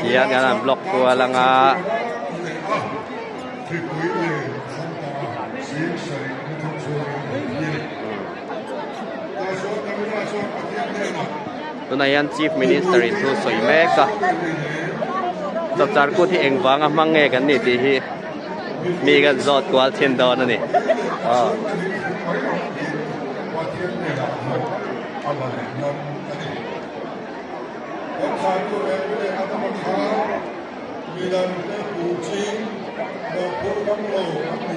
Tiangin an block kual ang a. Tuna hian Chief Minister in thu sawi mek a. Chawpchar kut hi engvang a hmang nge kan ni tih hi mi kan zawt kual thin dawn a ni. Oh.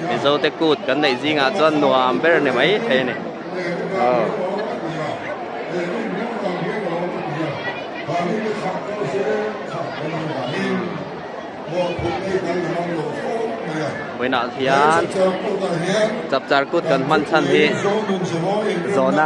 Mizote kut kan neih zingah chuan nuam ber ni mai thei a ni. Buainah hian chapchar kut kan hman chhan hi zona.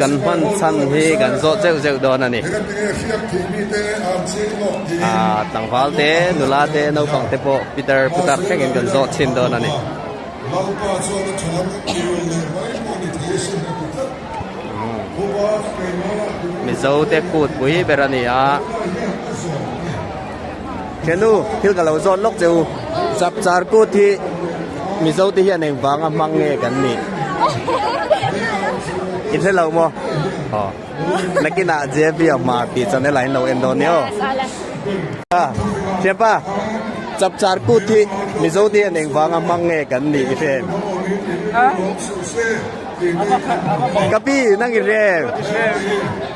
Kan hman chhan hi kan zawh zeuh zeuh dawn a ni. Tlangval te, nula te, naupang te pawh Peter putar thleng in kan zawh chhin dawn a ni. Mizo te kut pui ber a ni a. Khenu, thil ka lo zawt lawk che u. Chapchar kut hi Mizo te hian engvang a hmang nge kan nih? I hre lo maw? Aw. Nakinah JB a hma tih chuan ela in lo en dawn nia aw. Thianpa, chapchar kut hi Mizo te hian engvang a hmang nge kan nih? I hre em? Ka pi, nang i hre em?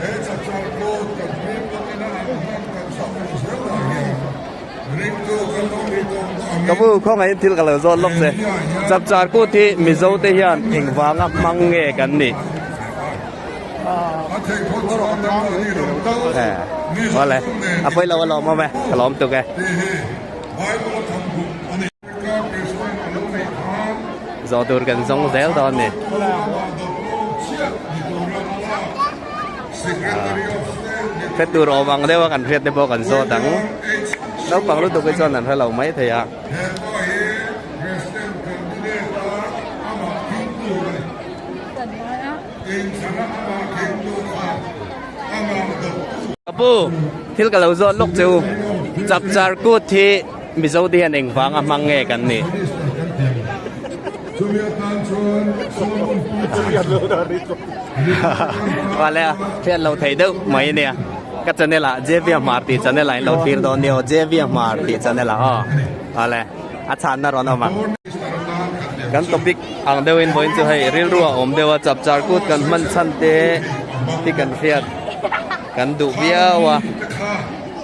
He chak chuan plot kan hming takin a ang hian kan chak ve zel lah hian ring chu kan lo ni tawng ta ang in. Ka bu khawngaih in thil ka lo zawt lawk che. Chak char kut hi Mizo te hian engvang a hmang nge kan nih? Vale, a pawi lo alawm awm e, ka lawm tuk e. Zawh tur kan zawng zel dawn ni. Hre tur awm ang deuh a kan hriat te pawh kan zawt ang. Naupang lutuk hi chuan an hre lo mai thei a. Ka pu, thil ka lo zawt lawk chu chapchar kut hi. Mizo te hian engvang a hmang nge kan nih? Vale a, fian lo thei deuh mai a nia. Ka channel ah Javier Hmar tih channel ah in lo fir dawn nia aw, Javier Hmar tih channel ah aw. Vale, a chhanna rawn awm ang. Kan topic ang deuhin vawiin chu hei rilru a awm deuha chap char kut kan hman chhan te hi kan hriat kan duh viau a.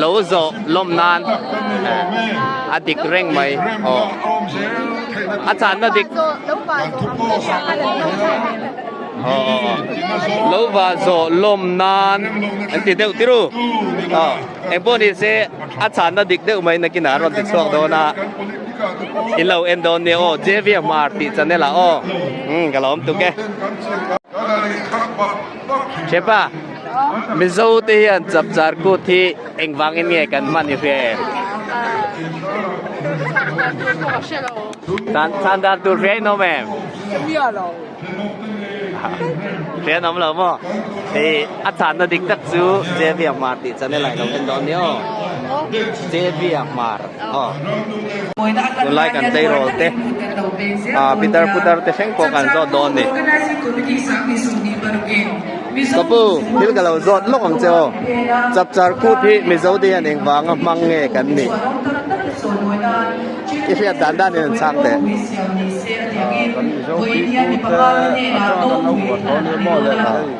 lo zawh lawm nan a dik reng mai aw a channa dik lo va zawh lawm nan an ti deuh tirh u aw engpawh ni se a channa dik deuh mai nakin a rawn ti chhuak dawn a i lo en dawn nia aw JVMR tih chan ila aw ka la awm tuk e. Chepa, Mizo te hian chap char kut hi engvang in nge kan hman i hria em? Chhan dar tur hria in awm em? Hria lo. Hria in awm lo maw? A chhan na dik tak chu Javier Hmar tih chan i lailo kan dawn ni aw. Javier Hmar. tunlai kan tei rol te ah pitar putar te hreng pawh kan zawt dawn ni ka pu thil ka lo zawt lawk ang che aw chap char kut hi mizo dian eng vang a hmang nge kan nih i hriat dan dan in an chhang teh ah kan mizo kut te a chuan kan lo buat dawn em aw le thei.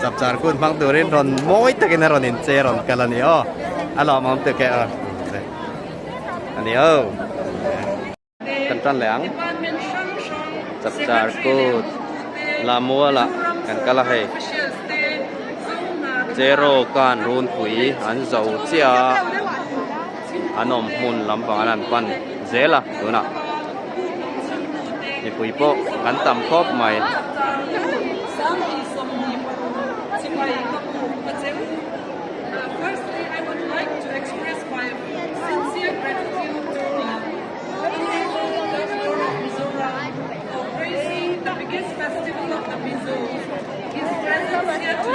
Chapchar kun hmang turin rawn mawi takin a rawn inche rawn kal a ni aw. A lawmawm te ke aw. A ni aw. Kan tan leh ang. Chapchar kun Lamuala kan kal a hei. Che rawkan runpui an zo chiah a. An awm hmun lampangah an pan zel a, tunah mipui pawh kan tam khawp mai.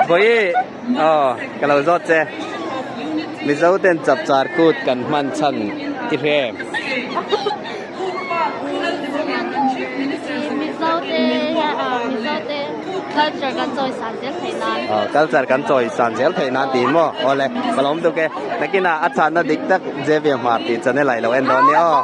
Bawiii. Aww ka lo zawt che Mizo ten chap char kut kan hman chhan i hre em. Mizo te Mizo te culture kan chawi san zel thei nan. Aww culture kan chawi san zel thei nan tiin maw aw le ka lawm tuk e. Nakin a a chahna dik tak Javier Hmar tih chan e lailo en dawn nia aw.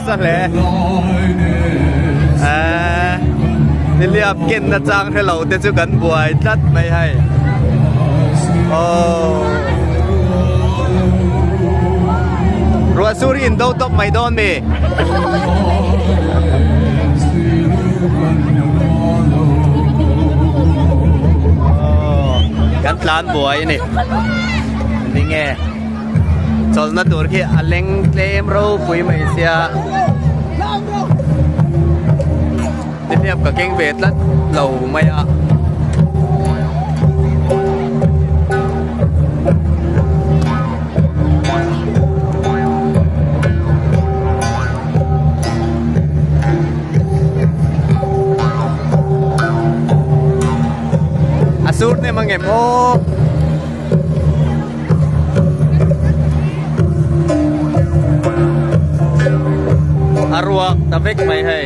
sa hle a niliap ken na chang hello te chu kan buai tlat mai hai oh ruah sur in do top mai don mi oh, kan tlan buai ni ninge chawlhna tur khi a leng tlem ropui mai sia nihliap ka keng ve tlat lo mai a a surname a nge maw a ruak ta vek mai hei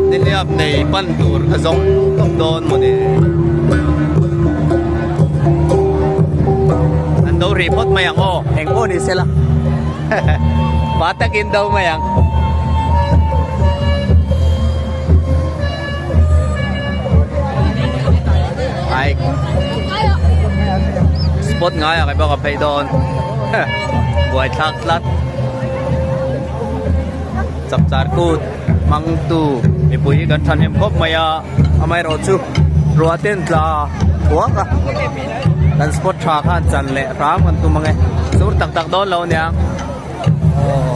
nihliap nei pan tur ka zawm tawp dawn maw ni an do rih phawt mai ang aw eng pawh ni sela pa takin do mai ang Spot ngai ah ka phei dawn buai thlak tlat chak char kut hmang tu mipui hi kan tha hnem khawp mai a amaherawh chu rua ten tla thuak a kan spot tha khan chan leh ram kan tum ang e sur tak tak dawn lo nia aww.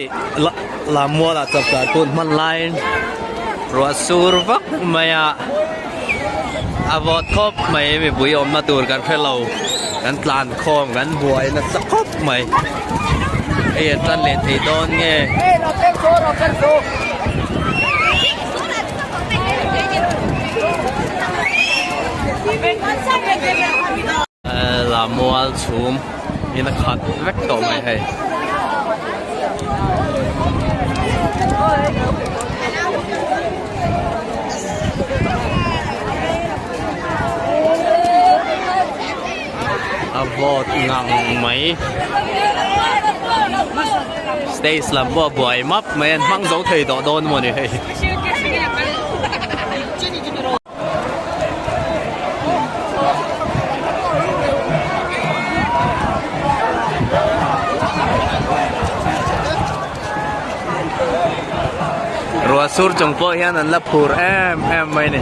Lam muala chap dan pawh an hman laiin ruahsur vak mai a, a vawt khawp mai a, mipui awmna tur kan hre lo, kan tlan khawm, kan buai nasa khawp mai, hei an tan leh thei dawn nge. Lamual chhum in a khat vek tawh mai hei. A vawt ngang mai. Stage lam pawh a buai map mai a, an hmang zo thei tawh dawn maw ni hei. Rua sur chung pawh hian an la phur em em mai ni.